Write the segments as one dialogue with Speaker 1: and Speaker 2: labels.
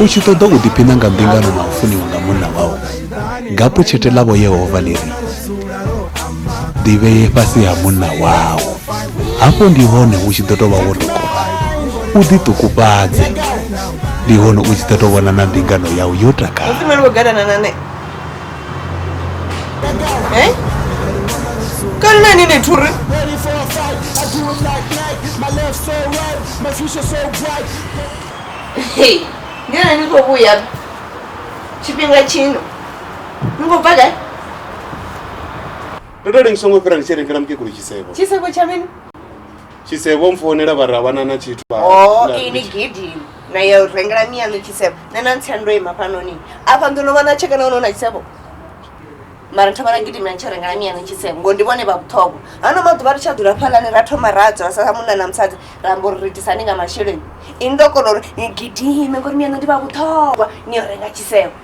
Speaker 1: u tshi ṱoḓa u ḓiphina nga
Speaker 2: mbingano na u funiwa nga munna wau gapo tshete ḽavho yehova ḽi ri ḓivheye fhasi ha munna wau hafho ndi hone u tshi ḓo tou vha wo tokola u ḓiṱukufhadze ndi hone u tshi ḓo tou vhona na mbingano yau yo takala
Speaker 1: Eh? Kani na nini turi? Hey, ngena ni khou vhuya tshifhinga tshino ni khou bva gai
Speaker 3: ndo to lengiswa ngo fhira ndi tshi rengela mukegulu tshisevho tshisevho tsha mini
Speaker 1: tshisevho
Speaker 3: mpfounela vha ra vhana na tshithu vha oh ini gidi
Speaker 1: na yo rengela mi yanu tshisevho na na ntsendo ima fhano ni afha ndo no vhana tshekana ono na tshisevho mara ntho vhana gidi mi yanu rengela mi yanu tshisevho ngo ndi vhone vha vhuṱhogwa hano maḓuvha ri tsha ḓula phalani ra thoma ra dzula sa munna na musadzi ra mbo ri itisani nga masheleni ini ndo kona uri ni gidime ngori mi yanu ndi vha vhuṱhogwa ni yo renga tshisevho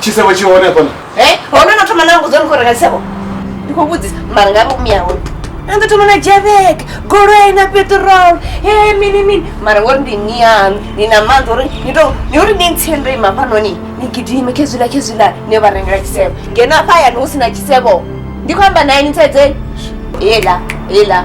Speaker 1: tshisevho
Speaker 3: tshi hone hafhaḽa e hone no thoma na
Speaker 1: mbudzo ni khou renga tshisevho ndi khou vhudzisa mara nga vho miya hone a ndo thoma na javek goloi na petrol e mini mini mara ngori ndi ni yanu ni na maanḓa uri ni to ni uri ni ntsie ndo ima fhanoni ni gidime khezwila khezwila ni yo vha rengela tshisevho ngeno afha hayani hu si na tshisevho ndi khou amba naye ni tsedzeni ela ela